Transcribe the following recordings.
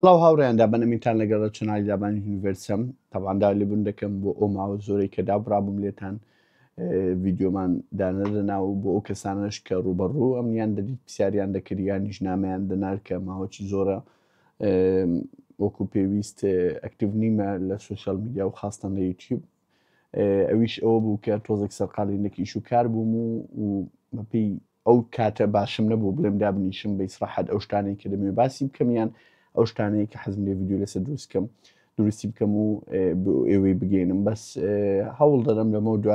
سڵاو هاوڕێیان دابەنەمینتان لەگەڵ لە چەنالی دابانی یونیڤەرسم تەوانداوای لێبوون دەکەم بۆ ئەو ماوە زۆرەی کە دابڕابووم لێتان ڤیددیۆمان دانەدەنا و بۆ ئەو کەسانش کە ڕوبەڕوو ئەم یان دەدیت پرسیاریان دەکرد یان نیشنامەیان دەنار کە ماوەچی زۆرە وەکو پێویست ئەکتیڤ نیمە لە سوسیال میدیا و خاستان لە یوتیوب ئەویش ئەوە بوو کە تۆزێک سەرقالینێک ئیش و کار بووم و و بەپێی ئەو کاتە باشم نەبوو بڵێم دابنیشم بە ئیسراحەت ئەو شتانەی کە دەمێ باسی بکەمیان ئەو شتانەیە کە حەزم لێ ویددیو لەسەر دروست بکەم دروستی بکەم و ئێوەی بگەێنم بەس هەوڵ دەدەم لەمە دو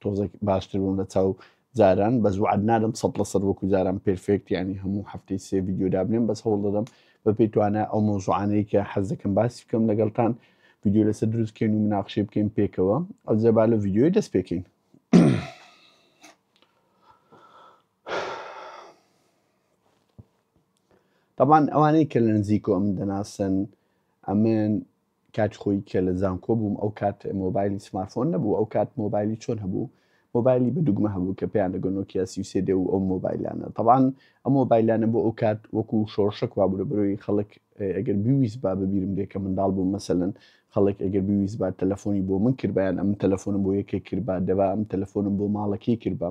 تۆزێک باشتر بووم لە چاو جاران بەس وەعد نادەم سەد لە سەد وەکو جاران پێرفێکت یانی هەموو هەفتەی سێ ڤیدیۆ دابنێم بەس هەوڵ دەدەم بەپێی توانای ئەو مەوزوعانەی کە حەز دەکەم باسی بکەم لەگەڵتان ڤیدیۆ لەسەر دروست بکەین و مناقشەی بکەین پێکەوە ئەو جەبا لە ڤیدیۆی دەست پێکەین طبعا ئەوانەی کە لە نزیکۆ ئەم دەناسن ئەمن کاتی خۆی کە لە زانکۆ بووم ئەو کات مۆبایلی سمارفۆن نەبوو ئەو کات مۆبایلی چۆن هەبوو مۆبایلی بە دوگمە هەبوو کە پێیان دەگۆن نۆکیا سی و سێ دێ و ئەو مۆبایلانە طبعاً ئەو مۆبایلانە بۆ ئەو کات وەکو شۆڕشەک وا بوو لە بەرۆی خەڵک ئەگەر بیویست با ببیرم دێ کە منداڵ بووم مەسەلەن خەڵک ئەگەر بیویست با تەلەفۆنی بۆ من کرد بایان ئەم تەلەفۆنم بۆ یەکێک کرد با دەبا ئەم تەلەفۆنم بۆ ماڵەکەی کرد بە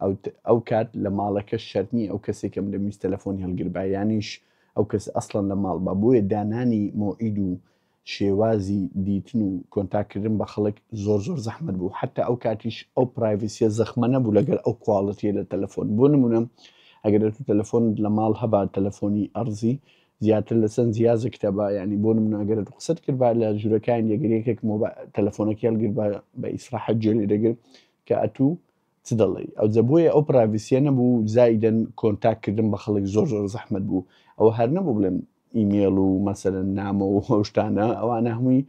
ئەو ت- ئەو کات لە ماڵەکە شەرت نییە ئەو کەسێکم دەمویست تەلەفۆنی هەڵگر با یانیش ئەو کەسە ئەسڵەن لە ماڵ بە بۆیە دانانی مەوعید و شێوازی دیتن و کۆنتاکردن بە خەڵک زۆر زۆر زەحمەت بوو حتا ئەو کاتیش ئەو پرایڤسیە زەخمە نەبوو لەگەر ئەو کواڵەتیە لە تەلەفۆن بۆ نمونە ئەگەر تو تەلەفۆن لە ماڵ هەبا تەلەفۆنی ئەڕزی زیاتر لە چەند جیازە کتەبا ینی بۆ نمونە ئەگەر تو قسەت کرد با لە ژورەکان یەگەر یەکێک تەلەفۆنەکەی هەڵگر بە ئیسراحەت جوێنی دەگر کە ئەتوو چ دەڵێی ئەوجە بۆیە ئەو پرایڤسیە نەبوو زایدەن کۆنتاک کردن بە خەڵک زۆر زۆر زەحمەت بوو ئەوە هەر نەبوو بڵێم ئیمێڵ و مەسەلەن نامە و ئەو شتانە ئەوانە هەمووی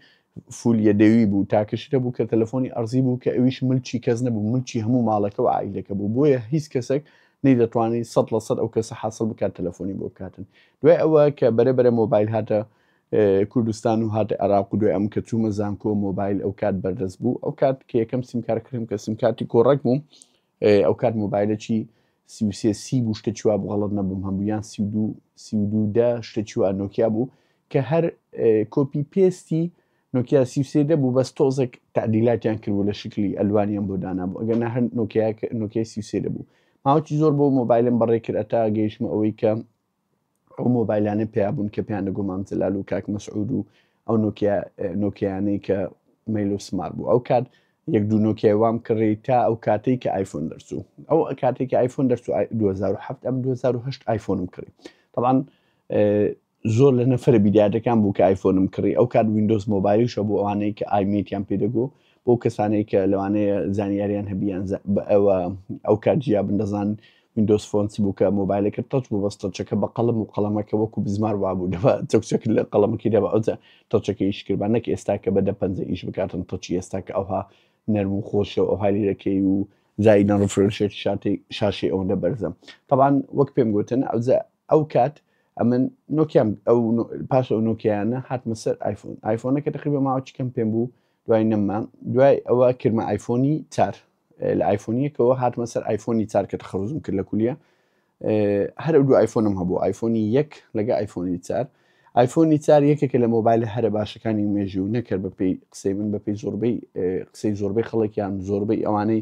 فول یەدەوی بوو تاکە شتە بوو کە تەلەفۆنی ئەرزی بوو کە ئەویش ملکی کەس نەبوو ملکی هەموو ماڵەکە و عیلەکە بوو بۆیە هیچ کەسێک نەیدەتوانی سەد لە سەد ئەو کەسە حاصل بکات تەلەفۆنی بۆ بکاتن دوای ئەوە کە بەرە بەرە مۆبایل هاتە کوردستان و هاتە عێراق و دوای ئەم کە چوومە زانکۆ مۆبایل ئەو کات بەردەست بوو ئەو کات کە یەکەم سیمکار کرم کە سمکارتی کۆڕەک بووم ئەو کات مۆبایلەکی سیوسێ سی بوو شتە چواب غەڵت نەبووم هەمبوو یان سی دوو سی و دوو دە شتە چوە نۆکیا بوو کە هەر کۆپی پێستی نۆکیا سیوسێ دەبوو بەس تۆزێک تعدیلاتیان کردبوو لە شکلی ئەلوانیان بۆ دانابوو ئەگەر نە هەر نۆکیا نۆکیای سیوسێ دەبوو ماوەی زۆر بۆ مۆبایلم بەڕێ کرد ئەتا گەیشتمە ئەوەی کە ئەو مۆبایلانە پیا بوون کە پێیان دەگۆ مام جەلال و کاک مەسعود و ئەو نۆکیانەی کە مەیلۆ سمار بوو ئەو کات یەک دوو نۆکیای وام کڕی تا ئەو کاتێک کە ئایفۆن دەرچوو ئەو کاتێکی ئایفۆن دەرچوو 2007 ئەم 2008 ئایفۆنم کڕی طبعاان زۆر لە نەفرە بیدادەکان بوو کە ئایفۆنم کڕی ئەو کات وینندۆز مۆبایلشە بۆ ئەوانەی کە ئایمێتیان پێدەگۆ بۆ کەسانەی کە لەوانەیە زانیاریان هەبی یان زە- بە ئەوە ئەو کات جیابن دەزان ویندۆز فۆن چ بوو کە مۆبایلەکە تەچ بوو بەس تەچەکە بە قەڵم و قەڵەمەکە وەکو بزمار وابوو دەبا چەکچەک لە قەڵەمەکەی دەبا ئەوجا تەچەکە ئیش کردبا نەک ئێستا کە بە دە پەنجە ئیش بکاتن تەچی ئێستا کە ئەوها نەرم و خۆشە و ئەوها لیرەکەی و زایدن ڕفرشێتی شاتی شاشەی ئەوەندە بەرزە طبعا وەک پێم گوتن ئەوجا ئەو کات ئەمن نۆکیام ئەو نۆ- پاش ئەو نۆکیانە هاتمە سەر ئایفۆن ئایفۆنەکە تقریبا ماوەی کەم پێم بوو دوای نەممە دوای ئەوە کرمە ئایفۆنی چار لە ئایفۆنیەکەەوە هاتمە سەر ئایفۆنی چار کە تەخەوزم کرد لە کولیە هەر دوو ئایفۆنم هەبوو ئایفۆنی یەک لەگە ئایفۆنی چار ئایفۆنی چار یەکێکە لە مۆبایل هەرە باشەکانی مێژوو نەکرد بە پێی قسەی من بەپی زۆربەی قسەی زۆربەی خەڵکیان زۆربەی ئەوانەی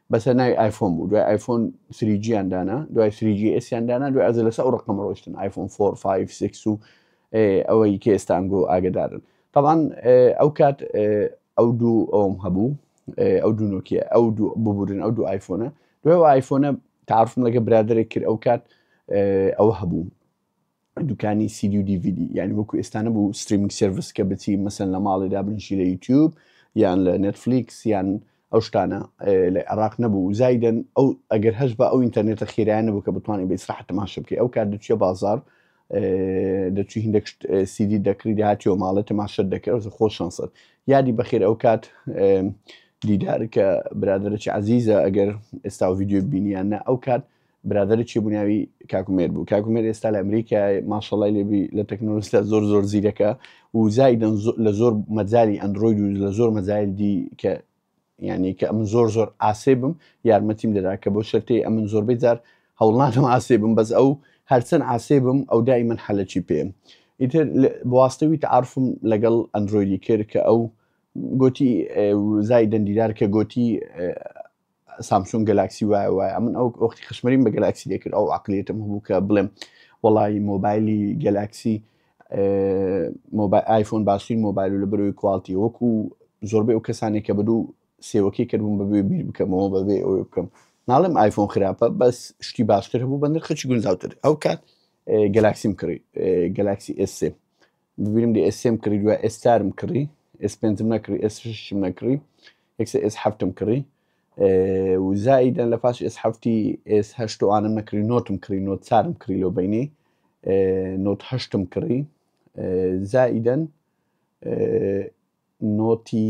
بەسە ناوی ئایفۆن بوو دوای ئایفۆن سریجییان دانا دوای سریجی ئسیان دانا دوای ئەزە لەسە ئەو ڕقم ڕۆشتن ئایفۆن 456 و ئەوەی کێستانگۆ ئاگدارن طبعاان ئەو کات ئەو دوو ئەوم هەبوو ئەو دوو نۆکی ئەو دوو ببورن ئەو دوو ئایفۆنە دوای ئایفۆنە تعرفم لەگە برادێک کرد ئەو کات ئەو هەبوو دوکانی سیدی و دیڤیدی یعنی وەکو ئێستانە بوو ستریمینگ سرویس کە بچی مەسەن لە ماڵی دابنیشی لە یوتیوب یان لە نێتفلیکس یان ئەو شتانە لە عراق نەبوو زایدن ئەو ئەگەر هەش بە ئەو ئینتەرنێتە خێرایانە بوو کە بتوانانی بە سرحت تەماشە بکەی ئەو کار دەچێ بازار دەچی هندێک سیدی دەکری داهاتی و ماڵێت تەماشەت دەکرد خۆشانسەر یادی بەخێر ئەو کات دیدار کە برادرەی عزیزە ئەگەر ئێستا و یددیو بینیانە ئەو کات برادەرە چی بونیاوی کاکومێر بوو کاکومێر ئێستا لە ئەمریکا ماشەڵای لێبی لە تەکنۆلستا زۆر زۆر زیرەکە و زایدن لە زۆر مەجای ئەندروید و لە زۆر مەجای دی کە یعنی کە ئەمن زۆر زۆر ئاسێ بم یارمەتیم دەدا کە بۆ شەرتی ئەمن زۆربەی جار هەوڵاتم ئاسێ بم بەس ئەو هەرچەند ئاسێ بم ئەو دای من حەلەکی پێم ئیتر بواستەوی تعرفم لەگەڵ ئەندرویدی کرد کە ئەو گوتی زای دەندیدار کە گوتی سامسونگ گەلاکسی وایە وایە من ئەو وەختی خشمەریم بە گەلاکسی دەکرد ئەو عقلێتم هەبوو کە بڵێم وەڵی مۆبایلی گەلاکسی مۆبای ئایفۆن باشترین مۆبایل و لە بەرەوەی کوالتی وەکو زۆربەی ئەو کەسانێک کە بدوو سێوەکەی کردبووم بەبێ بیر بکەمەوە بەبێ ئەوێ بکەم ناڵم ئایفۆن خراپە بەس شتی باشتر هەبوو بە نرخەچی گونجاوتر ئەو کات گەلاکسیم کڕی گەلاکسی ئێسێ ببینم لە ئێس سێم کڕی دوای ئێس چارم کڕی ئێس پێنجم نەکڕی ئێس ششم نەکڕی یەکسە ئێس حەفتم کڕی و زائیدەن لە پاش ئێس حەفتی ئێس هەشت و ئانم نەکڕی نۆتم کڕی نۆت چارم کڕی لۆ بینی نۆت هەشتم کڕی زائیدەن نۆتی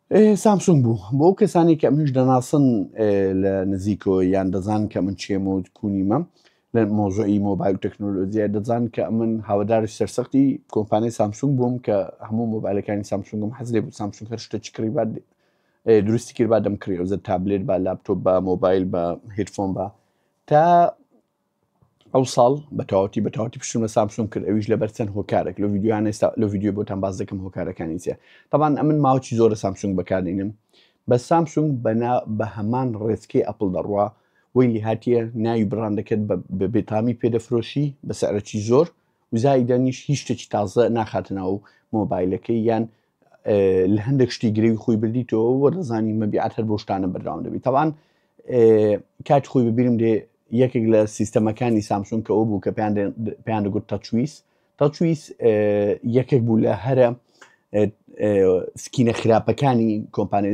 سامسونگ بوو بۆ ئەو کەسانی کە منش دەناسن لە نزیکۆ یان دەزان کە من چێم و کونیمە لە مۆزۆی مۆبایل تەکنۆلۆژیای دەزان کە من هاوادار سەرسەختی کۆمپانیای سامسونگ بووم کە هەموو مۆبایلەکانی سامسونگم حەزێ بوو سامسونگ هەر شتە چکڕی باد دروستی کرد با دەم کریۆزە تابلێت با لاپتۆپ بە مۆبایل بە هیرفۆن بە تا ئەوساڵ بەتەواوەتی بەتەواوەتی پشتم لە سامسۆنگ کرد ئەویش لەبەر چەند هۆکارێک لەو ڤیدیویانە ئێستا لەو ڤیدیۆ بۆتان باس دەکەم هۆکارەکانی چیە تەبان ئەمن ماوەی زۆرە سامسۆنگ بەکاردێنم بە سامسۆنگ بەنا بە هەمان ڕێچکەی ئەپڵ دەڕوا وەی لێهاتیە ناوی بڕاندەکەت بە بێتامی پێدەفرۆشی بە سعرەکی زۆر وزایدەنیش هیچ شتێکی تازە ناخاتنەوە و مۆبایلەکەی یان لەهەندێک شتی گرەوی خۆی بردیتەوە وە دەزانی مەبیعات هەر بۆ شتانە بەردەوام دەبی تاوان کات خۆی ببیرم دێ یەکێک لە سیستەمەکانی سامسون کە ئەو بوو کە پێیان دەگوت تەچویس تەچویس یەکێک بوو لە هەرە سکینە خراپەکانی کۆمپانی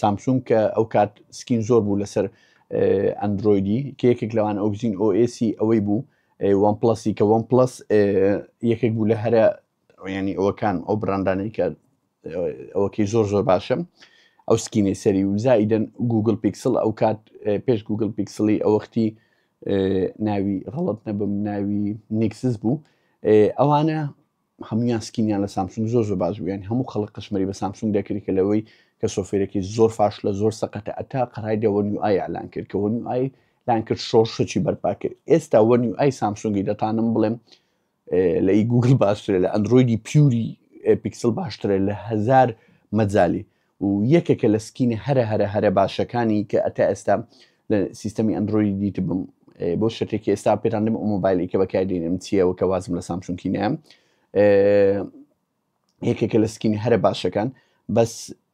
سامسون کە ئەو کات سکین زۆر بوو لەسەر ئەندرویدی کە یەکێک لەوان ئۆگزین ئۆسی ئەوەی بوو وان پلسی کە وان پلس یەکێک بوو لە هەرە ینی ئەوەکان ئەو بڕاندانەی کە ئەوەکەی زۆر زۆر باشە ئەو سکینەی سەری و زائیدن گوگل پیکسل ئەو کات پێش گوگل پیکسلی ئەوەختی ناوی غەڵت نەبم ناوی نیکسس بوو ئەوانە هەمویان سکینیان لە سامسونگ زۆر زۆر باش بوویان هەموو خەڵک قشمەری بە سامسونگ دەکرد کە لەوەی کە سۆفێرەکەی زۆر فاش لە زۆر سەقەتە ئەتا قڕایدەوە نیو ئای ئالان کرد کە وەنیو ئای لان کرد شۆڕشەی بەرپاکرد ئێستا وەنیو ئای سامسونگی دەتانم بڵێم لە ئی گوگل باشترە لە ئەندرۆیدی پیوری پیکسل باشترە لە هەزار مەجالی و یەکێکە لە سکینە هەرە هەرە هەرە باشەکانی کە ئەتا ئێستا لە سیستەمی ئەندرۆیدی دیت بم بۆ شتێکی ئێستا پێتان دەم مۆبایلی کە بەکاردێنم چیەوە کە وازم لە سامسونکی نام یەکێکە لە سکینە هەرە باشەکان بەس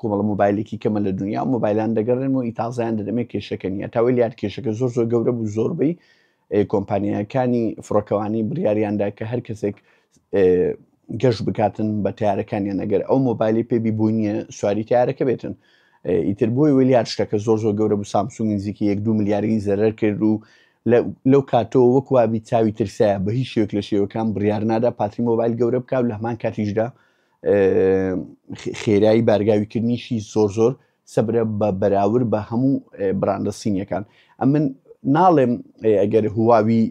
کۆمەڵە مۆبایلێکی کەمە لە دنیا و مۆبایلان دەگەڕێن و ئیتازیان دەدەمێت کێشەکە نیە تاوەی یاد کێشەکە زۆر زۆر گەورە بوو زۆربەی کۆمپانیەکانی فڕۆکەوانی بڕیاریاندا کە هەر کەسێک گەش بکاتن بە تارەکانیان ئەگەر ئەو مۆبایلی پێبی بوو نیە سواری تارەکە بێتن ئیتر بۆی ولیار شتەکە زۆر زۆر گەورە بوو سامسونگ نزیکی یەک دو ملیاری زەرەر کرد و لەو کاتەوە وەکوابی چاوی ترسایە بە هیچ شێک لە شێوەکان بڕیار نادا پاتری مۆبایل گەورە بکاو لە هەمان کاتیشدا خێرایی بارگاویکردنیشی زۆر زۆر سەبرە بە بەراور بە هەموو براندە سینیەکان ئەمن ناڵێم ئەگەر هواوی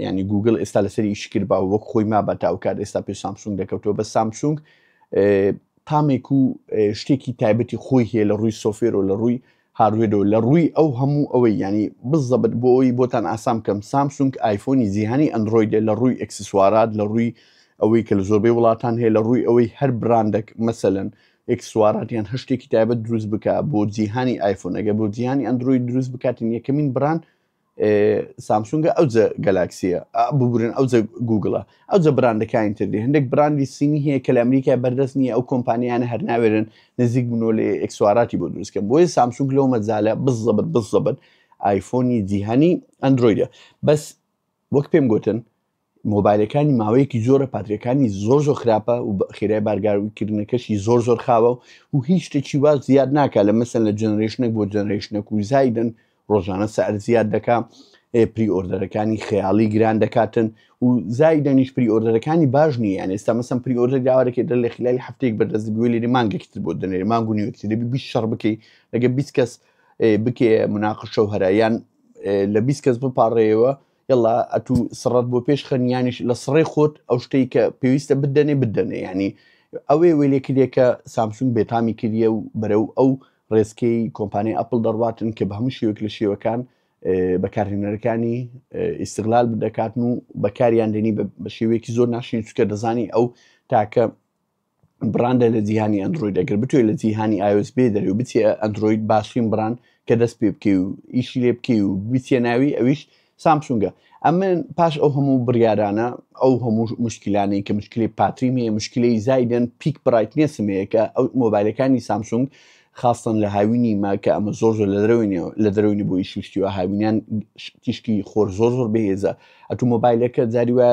ینی گوگل ئێستا لەسەر ئیشکرد با وەک خۆی ما بە تاوکات ئێستا پێ سامسونگ دەکەوتەوە بە سامسونگ تامێک و شتێکی تایبەتی خۆی هەیە لە ڕووی سۆفێر و لە ڕووی هاروێدۆ لە ڕووی ئەو هەموو ئەوەی یانی بزەبت بۆ ئەوی بۆتان ئاسان بکەم سامسونگ ئایفۆنی جیهانی ئەندرۆیدە لە ڕووی ئێکسسوارات لە ڕووی ئەوەی کە لە زۆربەی وڵاتان هەیە لە ڕووی ئەوەی هەر براندەک مەسەلەن ئێکسسوارات یان هەر شتێکی تایبەت دروست بکا بۆ جیهانی ئایفۆن ئەگەر بۆ جیهانی ئەندرۆید دروست بکاتن یەکەمین براند سامسونگە ئەوجە گەلاکسیە ببورن ئەوجە گوگڵە ئەوجە براندەکانی تردی هەندێک براندی سینی هەیە کە لە ئەمریکای بەردەست نییە ئەو کۆمپانیانە هەر ناوێرن نزیک بنۆ لە ئەکسواراتی بۆ دروستکە بۆیە سامسونگ لەو مەجالە بزەبت بزەبت ئایفۆنی جیهانی ئەندرویدە بەس وەک پێم گوتن مۆبایلەکانی ماوەیەکی زۆرە پاتریەکانی زۆر زۆر خراپە و خێرای بارگارویکردنەکەشی زۆر زۆر خاوە و هیچ شتێکی واز زیاد ناکە لە مەسەن لە جنرێشنێک بۆ جنرێشنەک و زایدن ڕۆژانە سەر زیاد دەکا پری ئۆردەرەکانی خەیاڵی گران دەکاتن و زای دەنیش پری ئۆردەرەکانی باش نییە یان ئێستا مەسم پری ئۆردە داوارەکە دە لە خلالی هەفتێک بەردەست بووی لێری مانگێکتر بۆ دەنێری مانگ و نیوەکتری بی شەڕ بکەی لەگە بیست کەس بکێ مناقشە و هەرایان لە بیست کەس بپارڕێەوە یەڵا ئەتوو سڕت بۆ پێش خەن یانیش لە سڕێ خۆت ئەو شتەی کە پێویستە بدەنێ بدەنێ ینی ئەوێ وێلێ کردێ کە سامسونگ بێتامی کردە و بەرە و ئەو ڕێزکەی کۆمپانیای ئەپل دەڕواتن کە بە هەموو شێوێک لە شێوەکان بەکارهێنەرەکانی ئیسیغلال بدەکاتن و بەکاریان دێنی بە شێوەیەکی زۆر ناشین چکە دەزانی ئەو تاکە براندە لە جیهانی ئەندرۆید ئەگەر بتوێت لە جیهانی ئایۆس بێ دەرێ و بچێ ئەندرۆید باشترین براند کە دەست پێ بکەی و ئیشی لێ بکەی و بچێ ناوی ئەویش سامسونگە ئەمن پاش ئەو هەموو بڕیارانە ئەو هەموو مشکلانەی کە مشکلی پاتریم هەیە مشکلی زایدن پیک برایتنێسم هەیە کە ئەو مۆبایلەکانی سامسونگ خاستن لە هاوینی ما کە ئەمە زۆر زۆر لە درەوینە لە درەوینە بۆی شوشتیوە هاوینان تیشکی خۆر زۆر زۆر بەهێزە ئەتو مۆبایلەکە جاری وە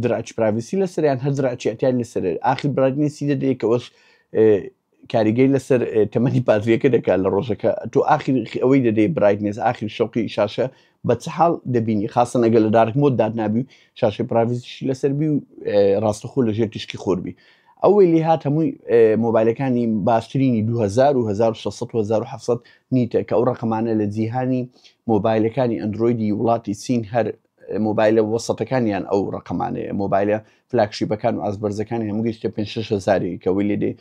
درعچ پراڤسی لەسەریان هەر درعچیاتیان لەسەر ئاخر برادنیسی دەدەیە کەەوەش کاریگەی لەسەر تەمەنی پادریەکە دەکات لە ڕۆژەکە تۆ آخر ئەوەی دەدەی برایتنس آخر شوقی شاشە بە چ حاڵ دەبینی خاصن ئەگە لە دارک مۆت داد نابی و شاشە پراویزیشی لەسەر بی و ڕاستەخۆ لە ژێر تشکی خۆربی ئەوەی لی هات هەمووی مۆبایلەکانی باشترینی 2016 نیتە کە ئەو ڕقمانە لە جیهانی مۆبایلەکانی ئەندرویدی وڵاتی سین هەر مۆبایلە وەسەتەکان یان ئەو ڕقەمانەیە مۆبایلە فلاکشیبەکان و ئاز بەرزەکان هەمووگەشتە پێ هزاری کەەوەی لێدێ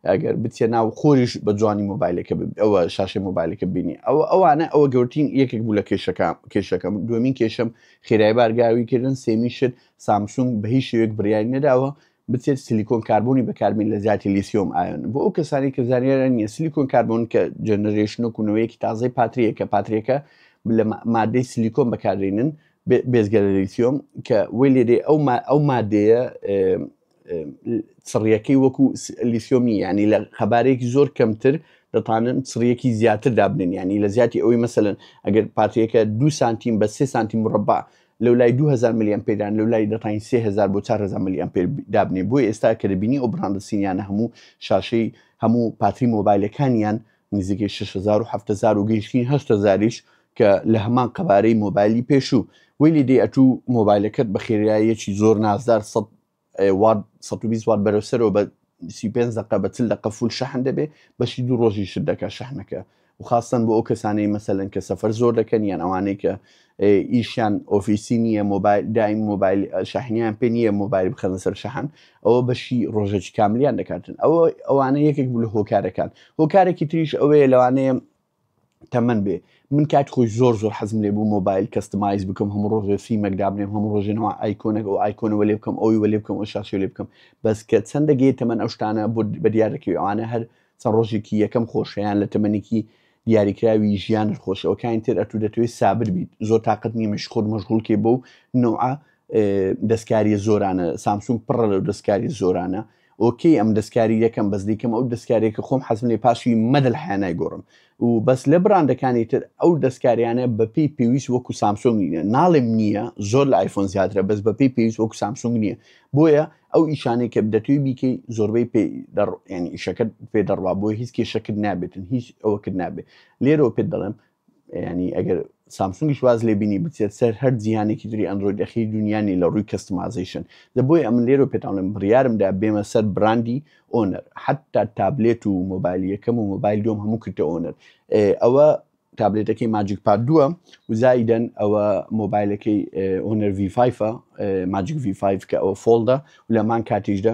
ئەگەر بچێ ناو خۆریش بە جوانی مۆبایلەکە ئەوە شاشی مۆبایلەکە بینی ئەوە ئەوانە ئەوە گەورتین یەکێک بوو لە کێشەکە کێشەکەم دومین کێشم خێرای بارگاوی کردن سێمیشت سامسونگ بە هیچ شوێک بریای نەداوە بچێت سلیکۆن کاربۆنی بەکاربین لە جیاتی لیسیۆم ئایۆن بۆ ئەو کەسانی کە زانیارە نیە سلیکۆن کاربۆن کە جەنەرێشن و کوونەوەیەکی تازەی پاتریە کە پاترێکە لە مادەی سلیکۆن بەکارێنن بێزگە لە لیسیۆم کە وی لێدێ ئەو مادەیە سڕیەکەی وەکو لیسیۆمی ینی لە خەبارێکی زۆر کەمتر دەتوانن سڕیەکی زیاتر دابنێن ینی لە زیاتی ئەوی مەسەن ئەگەر پاتریەکە دو سانتیم بە سێ سانتی مربع لەولای دوو هەزار ملی ئەمپێران لەولای دەتاین سێ هەزار بۆ چار هەزار ملی ئەمپێر دابنێ بۆیە ئێستا کە دەبینی ئەو بڕاندە سینیانە هەموو شاشەی هەموو پاتری مۆبایلەکانیان نزیکەی 6000 و 7000 و گەیشتین 8000یش کە لە هەمان قەبارەی مۆبایلی پێشوو وەی لێ دێ ئەتوو مۆبایلەکەت بە خێراییەکی زۆر نازدار سەد وات سەد و بیست وات بەرەو سەرەوە بە سی و پێنج دەقە بە چل دەقە فول شەحن دەبێ بەشی دوو ڕۆژی شت دەکات شەحنەکە و خاستن بۆ ئەو کەسانەی مەسەلەن کە سەفەر زۆر دەکەن یان ئەوانەی کە ئێ، ئیشیان ئۆفیسی نییە مۆبایل دایم مۆبایل ئە، شەحنیان پێ نییە مۆبایل بخەنە سەر شەحن ئەوە بەشی ڕۆژێکی کاملیان دەکاتن ئەوە ئەوانە یەکێک بوو لە هۆکارەکان هۆکارێکی تریش ئەوەیە لەوانەیە تەمەن بێ من کاتی خۆی زۆر زۆر حەزم لێ بوو مۆبایل کەستمایز بکەم هەموو ڕۆژێ فیمەک دابنێم هەموو ڕۆژێنەوە ئایکۆنەک و ئایکۆنە وەلێ بکەم ئەوی وەلێ بکەم و شاشی لێ بکەم بەس کە چەند دەگەی تەمەن ئەو شتانە بۆ بە دیارەکەوی ئەوانە هەر چەند ڕۆژێکی یەکەم خۆشەیان لە تەمەنێکی دیاریکراوی ژیانت خۆشەوەکانی تر ئەتو دەتوێت سابر بیت زۆر تااقت نیمەش خۆت مەشغولکێ بۆ نوعە دەستکاریە زۆرانە سامسونگ پڕە لەو دەستکاری زۆرانە ئۆکەی ئەم دەستکاری یەکەم بەس دیکەم ئەو دەستکاریە کە خۆم حەزم لێ پاشوی مەدل حیا نایگۆڕم و بەس لە براندەکانی تر ئەو دەستکاریانە بەپێی پێویست وەکو سامسۆنگ نینە ناڵێم نییە زۆر لە ئایفۆن زیاترە بەس بەپێی پێویست وەکو سامسۆنگ نییە بۆیە ئەو ئیشانەی کە دەتوی بیکەی زۆربەی پێ ینی ئیشەکەت پێ دەڕوا بۆی هیچ کێشەکرد نابێتن هیچ ئەوەکرد نابێت لێرەوە پێت دەڵێم ینی ئەگەر سامسنگیش واز لێ بینی بچێت سەر هەر جیهانێکی دری ئەندرۆیدەخی دنیانی لە ڕووی کەستمازیشن لە بۆی ئەمن لێرە پێتاڵم بڕارمدا بێمە سەر براندی ئۆنەر حتا تابلێت و مۆبایلیەکەم و مۆبایل دوم هەموو کردە ئۆنەر ئەوە تابلێتەکەی ماجیک پار دووە وزایدەن ئەوە مۆبایلەکەی ئۆنەر V5 ماجیک V5 کە ئەوە فۆلدە و لەمان کاتیشدا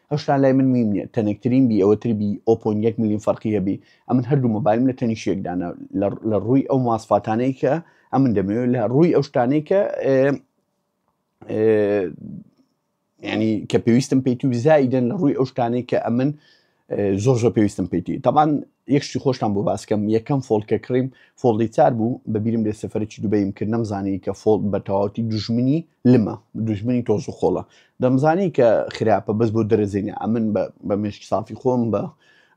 ئەو شتانە لای من مویم نیە تەنێکترین بی ئەوە تر بی ئەو پۆین یەک ملیم فەرقی هەبی ئەمن هەردوو مۆبایلم لە تەنیش یەکدانە لە ڕووی ئەو ماسفاتانەی کە ئەمن دەمەوێت لە ڕووی ئەو شتانەی کە ینی کە پێویستم پێیتی و زایدن لە ڕووی ئەو شتانەی کە ئەمن زۆر زۆر پێویستم پێیتی تەمان یەکشتی خۆشتان بۆ باسکەم یەکەم فۆلکە کڕیم فۆڵی چار بوو بەبیرم لێ سەفرەی دوبەیم کرد نەمزانانی کە فۆڵ بە تەواوتی دژمنی لمە دژمنی تۆز و خۆڵە دەمزانی کە خراپە بەس بۆ دەرەزێنە ئەمن بە مێشک سافی خۆم بە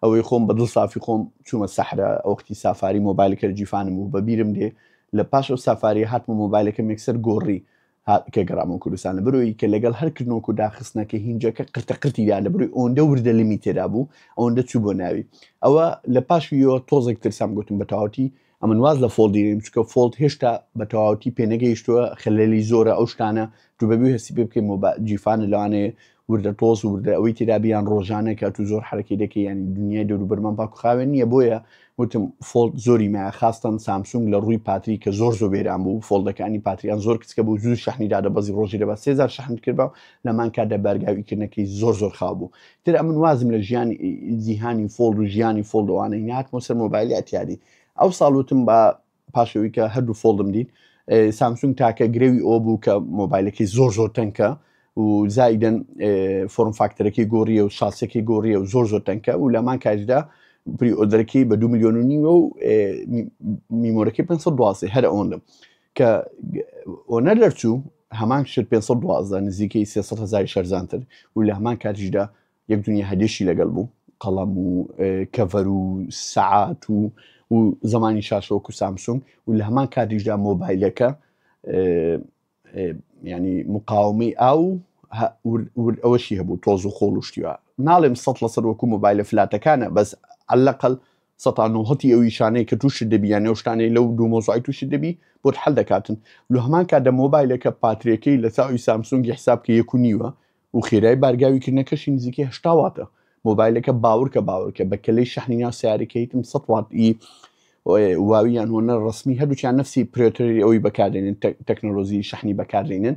ئەوەی خۆم بە دڵ سافی خۆم چوومە سەحرا ئەوختی سافاری مۆبایلەکە جیفانم و بە بیرم دێ لە پاش ئەو سافاری هاتمە مۆبایلەکە مێکسەر گۆڕی کە گەڕامە کوردستان لە بەرۆی کە لەگەڵ هەر کردنۆک و داخستنەکە هینجەکە قرتە قرتیدا لە بروی ئەوەندە وردە لمی تێدا بوو ئەوەندە چوو بۆ ناوی ئەوە لە پاشویەوە تۆزێک ترسام گوتم بە تەواوتی ئەمن واز لە فۆڵ دینیم چکە فۆڵت هێشتا بە تەواوەتی پێنەگەیشتووە خەلەلی زۆرە ئەو شتانە تو بەبی هەستی پێ بکەین بە جیفانە لەوانێ وردە تۆز وردە ئەوەی تێدابیان ڕۆژانە کە تو زۆر حرەکەی دەکەی ینی دنیای دەوروبەرمان پاکو خاوێن نییە بۆیە وتم فۆلت زۆری ما خاستەن سامسونگ لە ڕووی پاتری کە زۆر زۆر بێران بوو فۆلدەکانی پاتریان زۆر کچکە بوو زوو شەحنی دادە بەزی ڕۆژی لە بە سێزار شەحن کردەوە لەمان کاتدا بەرگاویکردنەکەی زۆر زۆر خاو بوو تر ئەمن وازم لە ژیان جیهانی فۆڵ و ژیانی فۆڵ دەوانە هاتمۆ سەر مۆبایلی ئەتیادی ئەو ساڵوتم بە پاشەوەی کە هەردوو فۆڵدم دیت سامسونگ تاکە گرەوی ئەو بوو کە مۆبایلەکەی زۆر زۆر تەنکە و زایدن فۆرم فاکتەرەکەی گۆڕیە و شاسەکەی گۆڕیە و زۆر زۆر تەنکە و لەمان کاژدا پری ئۆدرەکەی بە دو میلیۆن و نیوە و میمۆرەکەی 512 هەر ئەوەندم کە ئۆنە لەرچوو هەمان شر 512 نزیکەی 300 هزاری شەرزانتر و لە هەمان کاتیشدا یەک دنیا هەدێشی لەگەڵ بوو قەڵەم و کەڤەر و سەعات و و زمانی شاشۆک و سامسونگ و لە هەمان کاتیشدا مۆبایلەکە ینی مقاومی ئاو ئەوەشی هەبوو تۆز و خۆڵ و شتیوە ناڵێم سە لەسەر وەکو مۆبایلە فلاتەکانە بەس ئەلەقل سەتا نووهەتی ئەو ئیشانەی کە تووشت دەبی یانی ئەو شتانەی لەو دوو مەوزوعەی تووشت دەبی بۆت حەل دەکاتن لۆ هەمان کاتدا مۆبایلەکە پاترێکەی لە چاوی سامسونگی حساب کە یەک و نیوە و خێرای بارگاوی کردنەکەشی نزیکەی هەشتا واتە مۆبایلەکە باورکە باورکە بە کەلەی شەحنی ناو سەیارەکەی تم سەد وات ی واوی یان هۆنەر ڕسمی هەردووکیان نفسی پرێتری ئەوی بەکاردێنن تەکنۆلۆزی شەحنی بەکاردێنن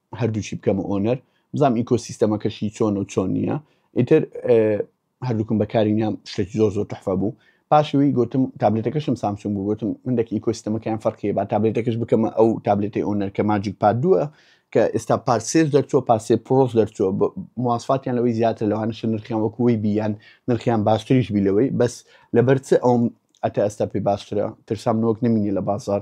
هەردووکی بکەمە ئۆنەر بزانام ئیکۆ سیستەمەکەشی چۆن و چۆن نییە ئیتر هەردووکم بەکاری نیام شتێکی زۆر زۆر تحفە بوو پاشەوەی گوتم تابلێتەکەشم سامسون بوو گوتم من دەکی ئیکۆسیستەمەکەیان فەرقیە با تابلێتەکەش بکەمە ئەو تابلێتی ئۆنەرکە ماجیک پا دووە کە ئێستا پارسێر دەرچۆ پاسێ پرۆس دەرچۆ مواسفاتیان لەوەی زیاتر لەوانشە نرخیان وەکوی بیان نرخیان باشتریش بی لەوەی بەس لەبەرچە ئەوم ئەتە ئەستا پێ باشترە ترسام نۆک نمینی لە بازار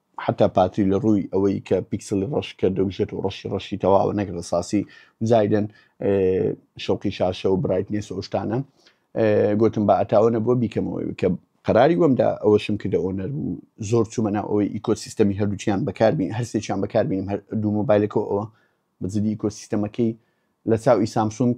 حەتا پاتری لە ڕووی ئەوەی کە پیکسڵی ڕەش کە دەوژێت و ڕەشی ڕەشی تەواوە نەک ڕساسی زایدن شەوقی شاشە و برایتنێس و شتانە گوتم بە ئەتاوە نەبووە بیکەمەوەی کە قراری وەمدا ئەوەشم کردە ئۆنەر بوو زۆر چوومەنا ئەوەی ئیکۆسیستەمی هەردووچیان بەکاربین هەرسێکیان بەکاربینم هەر دوو مۆبایلەکە ئەوە بەجددی ئیکۆسیستەمەکەی لە چاوی سامسونگ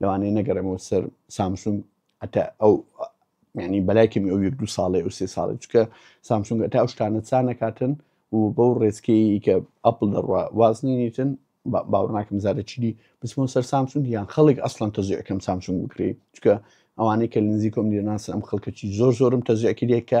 لەوانەیە نەگەڕێمەوە سەر سامسونگ ئەتا ئەو ینی بەلایکەمی ئەو یەک دو ساڵێ و سێ ساڵی چکە سامسونگ ئەتا ئەو شتانە چا نەکاتن و بەو ڕێزکەی کە ئەپل دەڕوا وازنینیتن باوڕناکەم زارە چیدی بسمۆ سەر سامسونگ یان خەڵک ئەسلان تەزیەکەم سامسونگ بکری چکە ئەوانەی کە لنزی کۆم لێناسن ئەم خەڵکەی زۆر زۆرم تەزیەکرێکە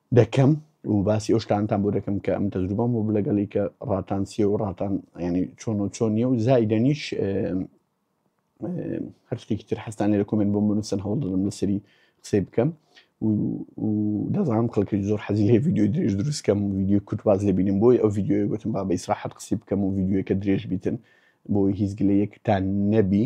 دەکەم و باسی ئەو شتانتان بۆ دەکەم کە ئەم تەجروبەم بۆ لەگەڵی کە ڕاتان چیە و ڕاتان ینی چۆن و چۆن نیە و زایدەنیش هەر شتێکی تر حستانی لە کۆمنت بۆ منوسن هەوڵ دەدەم لەسەری قسەی بکەم دەزانم خەڵکی زۆر حەزی هەیە یددیو درێژ دروستکەم ویددیو کوتواز لێ بینیم بۆی ئەو یددیوی گوتم با بە ئیسراحەت قسی بکەم و یددیوەکە درێژ بیتن بۆی هیچ گلەیەکتان نەبی